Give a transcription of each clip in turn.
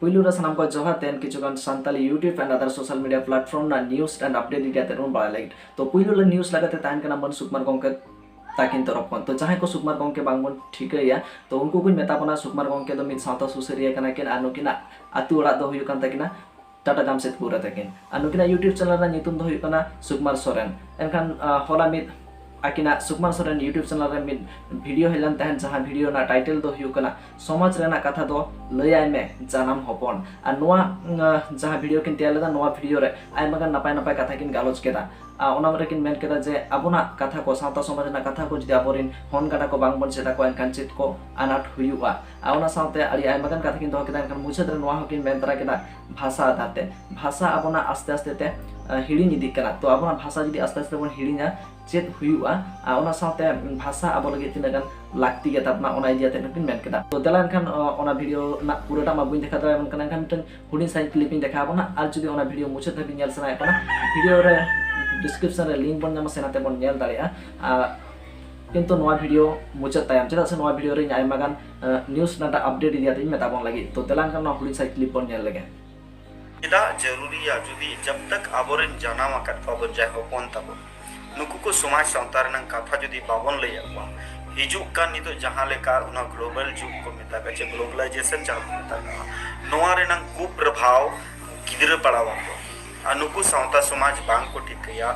ᱯᱩᱭᱞᱩ ᱨᱮ ᱥᱟᱱᱟᱢ ᱠᱚ ᱡᱚᱦᱟᱨ ᱛᱮᱱ ᱠᱤᱪᱷᱩ ᱜᱟᱱ ᱥᱟᱱᱛᱟᱞᱤ ᱭᱩᱴᱤᱭᱩᱵᱽ ᱮᱱᱰ ᱟᱫᱟᱨ ᱥᱳᱥᱟᱞ ᱢᱤᱰᱤᱭᱟ ᱯᱞᱟᱴᱯᱷᱚᱨᱢ ᱨᱮᱱᱟᱜ ᱱᱤᱭᱩᱡᱽ ᱮᱱᱰ ᱟᱯᱰᱮᱴ ᱤᱫᱤ ᱠᱟᱛᱮ ᱵᱚᱱ ᱵᱟᱲᱟᱭ ᱞᱟᱹᱜᱤᱫ ᱛᱚ ᱯᱩᱭᱞᱩ ᱨᱮ ᱱᱤᱭᱩᱡᱽ ᱞᱮᱠᱟᱛᱮ ᱛᱟᱦᱮᱱ ᱠᱟᱱᱟ ᱢᱟᱹᱱ ᱥᱩᱠᱢᱟᱨ ᱜᱚᱢᱠᱮ ᱛᱟᱹᱠᱤᱱ ᱛᱚᱨᱚᱯ ᱠᱷᱚᱱ ᱛᱚ ᱡᱟᱦᱟᱸᱭ ᱠᱚ ᱥᱩᱠᱢᱟᱨ ᱜᱚᱢᱠᱮ ᱵᱟᱝᱵᱚᱱ ᱴᱷᱤᱠᱟᱹᱭᱟ ᱛᱚ ᱩᱱᱠᱩ ᱠᱚᱧ ᱢᱮᱛᱟ ᱵᱚᱱᱟ ᱥᱩᱠᱢᱟᱨ ᱜᱚᱢᱠᱮ ᱫᱚ ᱢᱤᱫ ᱥᱟᱶᱛᱟ ᱥᱩᱥᱟᱹᱨᱤᱭᱟᱹ ᱠᱟᱱᱟ ᱠᱤᱱ ᱟᱨ ᱱᱩᱠᱤᱱᱟᱜ ᱟᱹᱛᱩ ᱚᱲᱟᱜ ᱫᱚ ᱦᱩᱭᱩᱜ ᱠᱟᱱ ᱛᱟᱹᱠᱤᱱᱟ ᱴᱟᱴᱟ ᱡᱟᱢᱥᱮᱫᱽᱯᱩᱨ ᱨᱮ ᱛᱟᱹᱠᱤᱱ ᱟᱨ ᱱᱩᱠᱤᱱᱟᱜ ᱤᱭᱩᱴᱤᱭᱩᱵᱽ ᱪᱮᱱᱮᱞ ᱨᱮᱱᱟᱜ ᱧᱩᱛᱩᱢ ᱫᱚ ᱦᱩᱭᱩᱜ ᱠᱟᱱᱟ ᱥᱩᱠᱢᱟᱨ ᱥᱚᱨᱮᱱ ᱮᱱᱠᱷᱟᱱ ᱦᱚᱞᱟ ᱢᱤᱫ ᱟᱹᱠᱤᱱᱟᱜ ᱥᱩᱠᱢᱟᱨ ᱥᱚᱨᱮᱱ ᱤᱭᱩᱴᱤᱭᱩᱵᱽ ᱪᱮᱱᱮᱞ ᱨᱮ ᱢᱤᱫ ᱵᱷᱤᱰᱤᱭᱳ ᱦᱮᱡ ᱞᱮᱱ ᱛᱟᱦᱮᱸᱫ ᱡᱟᱦᱟᱸ ᱵᱷᱤᱰᱤᱭᱳ ᱨᱮᱱᱟᱜ ᱴᱟᱭᱴᱮᱞ ᱫᱚ ᱦᱩᱭᱩᱜ ᱠᱟᱱᱟ ᱥᱚᱢᱟᱡᱽ ᱨᱮᱱᱟᱜ ᱠᱟᱛᱷᱟ ᱫᱚ ᱞᱟᱹᱭᱟᱭ ᱢᱮ ᱡᱟᱱᱟᱢ ᱦᱚᱯᱚᱱ ᱟᱨ ᱱᱚᱣᱟ ᱡᱟᱦᱟᱸ ᱵᱷᱤᱰᱤᱭᱳ ᱠᱤᱱ ᱛᱮᱭᱟᱨ ᱞᱮᱫᱟ ᱱᱚᱣᱟ ᱵᱷᱤᱰᱤᱭᱳ ᱨᱮ ᱟᱭᱢᱟ ᱜᱟᱱ ᱱᱟᱯᱟᱭ ᱱᱟᱯᱟᱭ ᱠᱟᱛᱷᱟ ᱠᱤᱱ ᱜᱟᱞᱚᱪ ᱠᱮᱫᱟ ᱚᱱᱟ ᱢᱟᱨᱮ ᱠᱤᱱ ᱢᱮᱱ ᱠᱮᱫᱟ ᱡᱮ ᱟᱵᱚᱱᱟᱜ ᱠᱟᱛᱷᱟ ᱠᱚ ᱥᱟᱶᱛᱟ ᱥᱚᱢᱟᱡᱽ ᱨᱮᱱᱟᱜ ᱠᱟᱛᱷᱟ ᱠᱚ ᱡᱩᱫᱤ ᱟᱵᱚᱨᱮᱱ ᱦᱚᱱ ᱜᱟᱰᱟ ᱠᱚ ᱵᱟᱝ ᱵᱚᱱ ᱪᱮᱫ ᱟᱠᱚᱣᱟ ᱮᱱᱠᱷᱟᱱ ᱪᱮᱫ ᱠᱚ ᱟᱱᱟᱴ ᱦᱩᱭᱩᱜᱼᱟ ᱟᱨ ᱚᱱᱟ ᱥᱟᱶᱛᱮ ᱟᱹᱰᱤ ᱟᱭᱢᱟ ᱜᱟᱱ ᱠᱟᱛᱷᱟ ᱠᱤᱱ ᱫᱚᱦᱚ ᱠᱮᱫᱟ ᱮᱱᱠᱷᱟᱱ ᱢᱩᱪᱟᱹᱫ ᱨᱮ ᱱᱚᱣᱟ ᱦᱚᱸᱠᱤᱱ ᱢᱮᱱ ᱛᱟᱨᱟ ᱠᱮᱫᱟ ᱵᱷᱟᱥᱟ ᱟᱫᱷᱟᱨ ᱛᱮ ᱵᱷᱟᱥᱟ ᱟᱵᱚᱱᱟᱜ ᱟᱥᱛᱮ ᱟᱥᱛᱮ ᱛᱮ ᱦᱤᱲᱤᱧ ᱤᱫᱤᱜ ᱠᱟᱱᱟ ᱛᱚ ᱟᱵᱚᱱᱟᱜ ᱵᱷᱟᱥᱟ ᱡᱩᱫᱤ ᱟᱥᱛᱮ ᱟᱥᱛᱮ ᱵᱚᱱ ᱦᱤᱲᱤᱧᱟ ᱪᱮᱫ ᱦᱩᱭᱩᱜᱼᱟ ᱟᱨ ᱚᱱᱟ ᱥᱟᱶᱛᱮ ᱵᱷᱟᱥᱟ ᱟᱵᱚ ᱞᱟᱹᱜᱤᱫ ᱛᱤᱱᱟᱹᱜ ᱜᱟᱱ ᱞᱟᱹᱠᱛᱤ ᱜᱮ ᱛᱟᱵᱚᱱᱟ ᱚᱱᱟ ᱤᱫᱤ ᱠᱟᱛᱮ ᱠᱤᱱ ᱢᱮᱱ ᱠᱮᱫᱟ ᱛᱚ ᱫᱮᱞᱟ ᱮᱱᱠᱷᱟᱱ ᱚᱱᱟ ᱵᱷᱤᱰᱤᱭᱳ ᱨᱮᱱᱟᱜ ᱯᱩᱨᱟᱹᱴᱟ ᱢᱟ ᱵᱟᱹᱧ ᱫᱮᱠᱷᱟᱣ ᱫᱟᱲᱮᱭᱟᱵᱚᱱ ᱠᱟᱱᱟ ᱮᱱᱠᱷᱟᱱ ᱢᱤᱫᱴᱮᱱ ᱦᱩᱰᱤᱧ ᱥᱟᱺᱦᱤᱡ ᱠᱞᱤᱯ ᱤᱧ ᱫᱮᱠᱷᱟᱣ ᱟᱵᱚᱱᱟ ᱟᱨ ᱡᱩᱫᱤ ᱚᱱᱟ ᱵᱷᱤᱰᱤᱭᱳ ᱢᱩᱪᱟᱹᱫ ᱫᱷᱟᱹᱵᱤᱡ ᱧᱮᱞ ᱥᱟᱱᱟᱭᱮᱫ ᱵᱚᱱᱟ ᱵᱷᱤᱰᱤᱭᱳ ᱨᱮ ᱰᱤᱥᱠᱨᱤᱯᱥᱚᱱ ᱨᱮ ᱞᱤᱝᱠ ᱵᱚᱱ ᱧᱟᱢᱟ ᱥᱮ ᱱᱟᱛᱮ ᱵᱚᱱ ᱧᱮᱞ ᱫᱟᱲᱮᱭᱟᱜᱼᱟ ᱠᱤᱱᱛᱩ ᱱᱚᱣᱟ ᱵᱷᱤᱰᱤᱭᱳ ᱢᱩᱪᱟᱹᱫ ᱛᱟᱭᱚᱢ ᱪᱮᱫᱟᱜ ᱥᱮ ᱱᱚᱣᱟ ᱵᱷᱤᱰᱤᱭᱳ ᱨᱮ ᱤᱧ ᱟᱭᱢᱟ ᱜᱟᱱ ᱱᱤᱭᱩᱡᱽ ᱨᱮᱱᱟᱜ ᱟᱯᱰᱮᱴ ᱤᱫᱤ ᱠᱟᱛᱮ ᱤᱧ ᱢᱮᱛᱟ ᱵᱚᱱ ᱞᱟᱹᱜᱤᱫ ᱛᱚ ᱫᱮᱞᱟᱝ ᱠᱟᱱ ᱱᱚᱣᱟ ᱦᱩᱰᱤᱧ ᱥᱟᱺᱦᱤᱡ ᱠᱞᱤᱯ ᱵᱚᱱ ᱧᱮᱞ ᱞᱮᱜᱮ ᱪᱮᱫᱟᱜ ᱡᱟᱹᱨᱩᱨᱤᱭᱟ ᱡᱩᱫᱤ ᱡᱟᱵ ᱛᱟᱠ ᱟᱵᱚᱨᱮᱱ ᱡᱟᱱᱟᱢ ᱟᱠᱟᱫ ᱠᱚᱣᱟ ᱵᱚᱱ ᱡᱟᱦᱟᱸᱭ ᱦᱚᱯᱚᱱ ᱛᱟᱵᱚᱱ ᱱᱩᱠᱩ ᱠᱚ ᱥᱚᱢᱟᱡᱽ ᱥᱟᱶᱛᱟ ᱨᱮᱱᱟᱜ ᱠᱟᱛᱷᱟ ᱡᱩᱫᱤ ᱵᱟᱵᱚᱱ ᱞᱟᱹᱭ ᱟᱠᱚᱣᱟ ᱦᱤᱡᱩᱜ ᱠᱟᱱ ᱱᱤᱛᱚᱜ ᱡᱟᱦᱟᱸ ᱞᱮᱠᱟ ᱚᱱᱟ ᱜᱞᱳᱵᱟᱞ ᱡᱩᱜᱽ ᱠᱚ ᱢᱮᱛᱟᱜᱼᱟ ᱪᱮ ᱜᱞᱳᱵᱟᱞᱟᱭᱡᱮᱥᱚᱱ ᱡᱟᱦᱟᱸ ᱠᱚ ᱢᱮᱛᱟᱜᱼᱟ ᱱᱚᱣᱟ ᱨᱮᱱᱟᱜ ᱠᱩᱯᱨᱚᱵᱷᱟᱣ ᱜᱤᱫᱽᱨᱟᱹ ᱯᱟᱲᱟᱣ ᱟᱠᱚ ᱟᱨ ᱱᱩᱠᱩ ᱥᱟᱶᱛᱟ ᱥᱚᱢᱟᱡᱽ ᱵᱟᱝ ᱠᱚ ᱴᱷᱤᱠᱟᱹᱭᱟ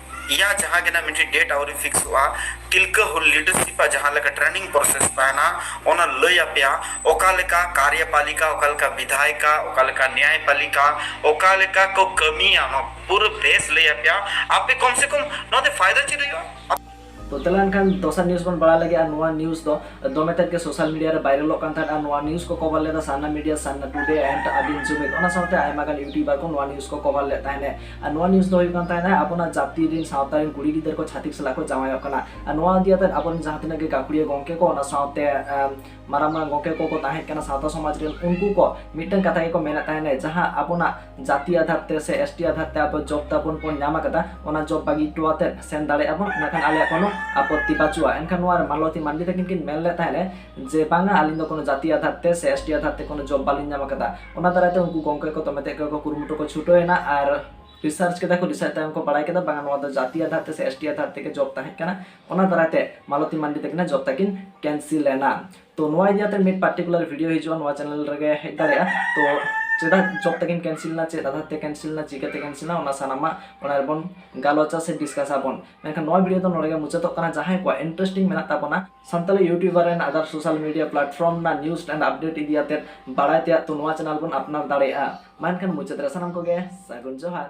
ᱤᱭᱟ ᱡᱟᱦᱟᱸ ᱜᱮᱱᱟ ᱢᱤᱫᱴᱤᱡ ᱰᱮᱴ ᱟᱣᱨᱤ ᱯᱷᱤᱠᱥᱚᱜᱼᱟ ᱛᱤᱞᱠᱟᱹ ᱦᱩᱞ ᱞᱤᱰᱟᱨᱥᱤᱯ ᱟ ᱡᱟᱦᱟᱸ ᱞᱮᱠᱟ ᱴᱨᱮᱱᱤᱝ ᱯᱨᱚᱥᱮᱥ ᱛᱟᱦᱮᱱᱟ ᱚᱱᱟ ᱞᱟᱹᱭ ᱟᱯᱮᱭᱟ ᱚᱠᱟ ᱞᱮᱠᱟ ᱠᱟᱨᱭᱚᱯᱟᱞᱤᱠᱟ ᱚᱠᱟ ᱞᱮᱠᱟ ᱵᱤᱫᱷᱟᱭᱤᱠᱟ ᱚᱠᱟ ᱞᱮᱠᱟ ᱱᱭᱟᱭᱯᱟᱞᱤᱠᱟ ᱚᱠᱟ ᱞᱮᱠᱟ ᱠᱚ ᱠᱟᱹᱢᱤᱭᱟ ᱱᱚᱣᱟ ᱯᱩᱨᱟᱹ ᱵᱮᱥ ᱞᱟᱹᱭ ᱟᱯᱮᱭᱟ ᱟᱯᱮ ᱠᱚᱢ ᱥᱮ ᱠᱚᱢ ᱱᱚᱣᱟ ᱛᱮ ᱯᱷᱟᱭᱫᱟ ᱪᱮᱫ ᱦᱩᱭᱩᱜᱼᱟ ᱛᱚ ᱛᱟᱦᱞᱮ ᱮᱱᱠᱷᱟᱱ ᱫᱚᱥᱟᱨ ᱱᱤᱭᱩᱡᱽ ᱵᱚᱱ ᱵᱟᱲᱟᱭ ᱞᱟᱹᱜᱤᱫ ᱟᱨ ᱱᱚᱣᱟ ᱱᱤᱭᱩᱡᱽ ᱫᱚ ᱫᱚᱢᱮ ᱛᱮᱫ ᱜᱮ ᱥᱳᱥᱟᱞ ᱢᱤᱰᱤᱭᱟ ᱨᱮ ᱵᱷᱟᱭᱨᱟᱞᱚᱜ ᱠᱟᱱ ᱛᱟᱦᱮᱸᱫ ᱟᱨ ᱱᱚᱣᱟ ᱱᱤᱭᱩᱡᱽ ᱠᱚ ᱠᱚᱵᱷᱟᱨ ᱞᱮᱫᱟ ᱥᱟᱱᱱᱟ ᱢᱤᱰᱤᱭᱟ ᱥᱟᱱᱱᱟ ᱴᱩᱰᱮ ᱮᱱᱰ ᱟᱫᱤᱢ ᱡᱩᱢᱤᱫ ᱚᱱᱟ ᱥᱟᱶᱛᱮ ᱟᱭᱢᱟ ᱜᱟᱱ ᱤᱭᱩᱴᱤᱭᱩᱵᱟᱨ ᱠᱚ ᱱᱚᱣᱟ ᱱᱤᱭᱩᱡᱽ ᱠᱚ ᱠᱚᱵᱷᱟᱨ ᱞᱮᱫ ᱛᱟᱦᱮᱸᱫ ᱟᱨ ᱱᱚᱣᱟ ᱱᱤᱭᱩᱡᱽ ᱫᱚ ᱦᱩᱭᱩᱜ ᱠᱟᱱ ᱛᱟᱦᱮᱸᱫ ᱟᱵᱚᱱᱟᱜ ᱡᱟᱹᱛᱤ ᱨᱮᱱ ᱥᱟᱶᱛᱟ ᱨᱮᱱ ᱠᱩᱲᱤ ᱜᱤᱫᱟᱹᱨ ᱠᱚ ᱪᱷᱟᱹᱛᱤᱠ ᱥᱟᱞᱟᱜ ᱠᱚ ᱡᱟᱶᱟᱭᱚᱜ ᱠᱟᱱᱟ ᱟᱨ ᱱᱚᱣᱟ ᱤᱫᱤ ᱠᱟᱛᱮ ᱟᱵᱚᱨᱮᱱ ᱡᱟᱦᱟᱸ ᱛᱤᱱᱟᱹᱜ ᱜᱮ ᱜᱟᱹᱠᱷᱩᱲᱤᱭᱟᱹ ᱜᱚᱢᱠᱮ ᱠᱚ ᱚᱱᱟ ᱥᱟᱶᱛᱮ ᱢᱟᱨᱟᱝ ᱢᱟᱨᱟᱝ ᱜᱚᱢᱠᱮ ᱠᱚᱠᱚ ᱛᱟᱦᱮᱸ ᱠᱟᱱᱟ ᱥᱟᱶᱛᱟ ᱥᱚᱢᱟᱡᱽ ᱨᱮᱱ ᱩᱱᱠᱩ ᱠᱚ ᱢᱤᱫᱴᱟᱝ ᱠᱟᱛᱷᱟ ᱜᱮᱠᱚ ᱢᱮᱱᱮᱫ ᱛᱟᱦᱮᱱᱟ ᱡᱟᱦᱟᱸ ᱟᱵᱚᱱᱟᱜ ᱡᱟᱹᱛᱤ ᱟᱫᱷᱟᱨ ᱛᱮ ᱥᱮ ᱮᱥ ᱴᱤ ᱟᱫᱷᱟᱨ ᱛᱮ ᱟᱵᱚ ᱡᱚᱵ ᱛᱟᱵᱚᱱ ᱵᱚᱱ ᱧᱟᱢ ᱟᱠᱟᱫᱟ ᱚᱱᱟ ᱡᱚᱵ ᱵᱟᱹᱜᱤ ᱦᱚᱴᱚ ᱠᱟᱛᱮᱫ ᱥᱮᱱ ᱫᱟᱲᱮᱭᱟᱜᱼᱟ ᱵᱚᱱ ᱚᱱᱟ ᱠᱷᱟᱱ ᱟᱞᱮᱭᱟᱜ ᱠᱳᱱᱳ ᱟᱯᱚᱛᱛᱤ ᱵᱟᱹᱪᱩᱜᱼᱟ ᱮᱱᱠᱷᱟᱱ ᱱᱚᱣᱟ ᱨᱮ ᱢᱟᱞᱚᱛᱤ ᱢᱟᱱᱰᱤ ᱛᱟᱹᱠᱤᱱ ᱠᱤᱱ ᱢᱮᱱ ᱞᱮᱫ ᱛᱟᱦᱮᱸᱫ ᱡᱮ ᱵᱟᱝᱟ ᱟᱹᱞᱤᱧ ᱫᱚ ᱠᱳᱱᱳ ᱡᱟᱹᱛᱤ ᱟᱫᱷᱟᱨ ᱛᱮ ᱥᱮ ᱮᱥ ᱴᱤ ᱟᱫᱷᱟᱨ ᱛᱮ ᱠᱳᱱᱳ ᱡᱚᱵ ᱵᱟᱹᱞᱤᱧ ᱧᱟᱢ ᱟᱠᱟᱫᱟ ᱚᱱᱟ ᱫᱟᱨᱟᱭ ᱛᱮ ᱩᱱᱠᱩ ᱜᱚᱢᱠᱮ ᱠᱚ ᱫᱚᱢᱮ ᱛᱮᱫ ᱜᱮᱠᱚ ᱠᱩᱨᱩᱢᱩᱴᱩ ᱠᱚ ᱪᱷᱩᱴᱟᱹᱣ ᱮᱱᱟ ᱟᱨ ᱨᱤᱥᱟᱨᱪ ᱠᱮᱫᱟ ᱠᱚ ᱨᱤᱥᱟᱨᱪ ᱛᱟᱭᱚᱢ ᱠᱚ ᱵᱟᱲᱟᱭ ᱠᱮᱫᱟ ᱵᱟᱝᱟ ᱱᱚᱣᱟ ᱫᱚ ᱡᱟᱹᱛᱤ ᱟᱫᱷᱟᱨ ᱛᱮ ᱥᱮ ᱮᱥ ᱴᱤ ᱟᱫᱷᱟᱨ ᱛᱮᱜᱮ ᱡᱚᱵ ᱛᱟᱦᱮᱸ ᱠᱟᱱᱟ ᱚᱱᱟ ᱫᱟᱨᱟᱭ ᱛᱮ ᱢᱟᱞᱚᱛᱤ ᱢᱟᱱᱰᱤ ᱛᱟᱹᱠᱤᱱᱟᱜ ᱡᱚᱵ ᱛᱟᱹᱠᱤᱱ ᱠᱮᱱᱥᱤᱞ ᱮᱱᱟ ᱛᱚ ᱱᱚᱣᱟ ᱤᱫᱤ ᱠᱟᱛᱮ ᱢᱤᱫ ᱯᱟᱨᱴᱤᱠᱩᱞᱟᱨ ᱵᱷᱤᱰᱤᱭᱳ ᱦᱤᱡᱩᱜᱼᱟ ᱱᱚᱣᱟ ᱪᱮᱱᱮᱞ ᱨᱮᱜᱮ ᱦᱮᱡ ᱫᱟᱲᱮᱭᱟᱜᱼᱟ ᱛᱚ ᱪᱮᱫᱟᱜ ᱡᱚᱵ ᱛᱟᱹᱠᱤᱱ ᱠᱮᱱᱥᱤᱞ ᱮᱱᱟ ᱪᱮᱫ ᱟᱫᱷᱟᱨ ᱛᱮ ᱠᱮᱱᱥᱤᱞ ᱮᱱᱟ ᱪᱤᱠᱟᱹᱛᱮ ᱠᱮᱱᱥᱤᱞ ᱮᱱᱟ ᱚᱱᱟ ᱥᱟᱱᱟᱢᱟᱜ ᱚᱱᱟ ᱨᱮᱵᱚᱱ ᱜᱟᱞᱚᱪᱟ ᱥᱮ ᱰᱤᱥᱠᱟᱥ ᱟᱵᱚᱱ ᱢᱮᱱᱠᱷᱟᱱ ᱱᱚᱣᱟ ᱵᱷᱤᱰᱤᱭᱳ ᱫᱚ ᱱᱚᱰᱮ ᱜᱮ ᱢᱩᱪᱟᱹᱫᱚᱜ ᱠᱟᱱᱟ ᱡᱟᱦᱟᱸᱭ ᱠᱚᱣᱟᱜ ᱤᱱᱴᱟᱨᱮᱥᱴᱤᱝ ᱢᱮᱱᱟᱜ ᱛᱟᱵᱚᱱᱟ ᱥᱟᱱᱛᱟᱲᱤ ᱤᱭᱩᱴᱤᱭᱩᱵᱟᱨ ᱨᱮᱱ ᱟᱫᱟᱨ ᱥᱳᱥᱟᱞ ᱢᱤᱰᱤᱭᱟ ᱯᱞᱟᱴᱯᱷᱚᱨᱢ ᱨᱮᱱᱟᱜ ᱱᱤᱭᱩᱡᱽ ᱮᱱᱰ ᱟᱯᱰᱮᱴ ᱤᱫᱤ ᱠᱟᱛᱮ ᱵᱟᱲᱟᱭ ᱛᱮᱭᱟᱜ ᱛᱚ ᱱᱚᱣᱟ ᱪᱮᱱᱮᱞ ᱵᱚᱱ ᱟᱯᱱᱟᱨ ᱫᱟᱲᱮᱭᱟᱜᱼᱟ ᱢᱟ ᱮᱱᱠᱷᱟᱱ ᱢᱩᱪᱟᱹᱫ ᱨᱮ ᱥᱟᱱᱟᱢ ᱠᱚᱜᱮ ᱥᱟᱹᱜᱩᱱ ᱡᱚᱦᱟᱨ